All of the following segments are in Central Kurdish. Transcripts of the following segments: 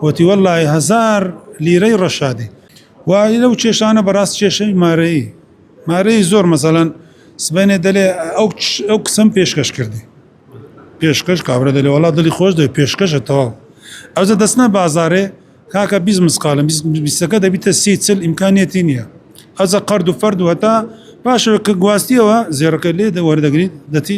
وتی وەللەی هەزار لیرەی ڕەشادی وا ی لەو کێشانە بەڕاست کێشەی مارەیی مارەیی زۆر مەسەلەن سبەینێ دەلێ ئەو ئەو کچەم پێشکەش کردی پێشکەش کابرا دەلێ وەڵا دڵی خۆش دەوێ پێشکەشە تەواو ئەوجە دەچنە بازاڕێ کاکە بیست مسقالم بیست- بیستەکە دەبیتە سی چل ئیمکانیەتی نییە ئەوجە قەرد و فەرد و هەتا پاشەوە کە گواستیەوە زێڕەکە لێ دە وەردەگری دەچی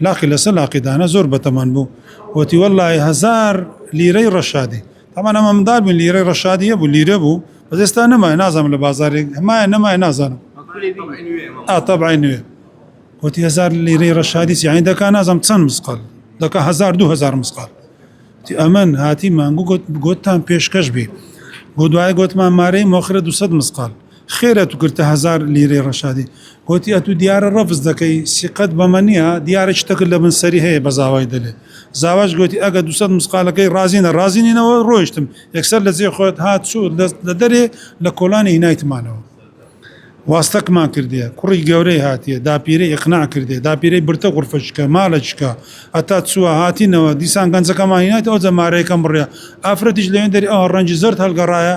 لاقی لەسەر لاقی دانا زۆر بەتەمان بوو وتی وەلای هزار لیرەی ڕەشادی تامان ئەمە مندار بووین لیرەی ڕەشادیە بوو لیرە بوو بەزێستا نەمای نازانم لە بازارێک هەمایە نەمای نازانم ئاتەبای نوێ وتی هزار لیرەی ڕەشادی سیانی دەکا نازم چەند مسقال دەکە هزار دو هزار مسقال ئەمن هاتی مانگو گوتتان پێشکەش بی بۆ دوای گوتمان مارەی مۆخرە 200 مسقال خێرە تو گرتە هەزار لیرەی ڕەشادی گۆتی ئەتو دیارە ڕەفز دەکەی سیقەت بەمە نیە دیارە چتەکت لەبن سەری هەیە بە زاوای دەلێ زاواش گۆتی ئەگە دوسەد مسقالەکەی ڕازی نە ڕازی نینەوە ڕۆیشتم یەکسەر لە جێ خۆت هات چو لە دەرێ لە کۆلانی هینایتمانەوە واستەکمان کردیە کوڕی گەورەی هاتیە داپیرەی ئیقناع کردیە داپیرەی برتە غورفە چکە مالە چکە ئەتا چوە هاتینەوە دیسان گەنجەکەمان هینایتەوە ئەوجە مارەیەکەم بڕیا ئافرەتیش لەوێن دەری ئەوە ڕەنجی زەرد هەلگەڕایە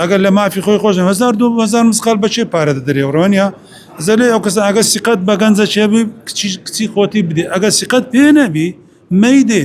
ئەگەر لە مافی خۆی خۆش هزار دو هزار مسقال بە چێ پارە دەدرێ ڕۆنیا زەلێ ئەو کەس ئەگە سیقەت بە گەنجە چێبی کچی کچی خۆتی بدێ ئەگە سیقەت پێ نەبی مەیدێ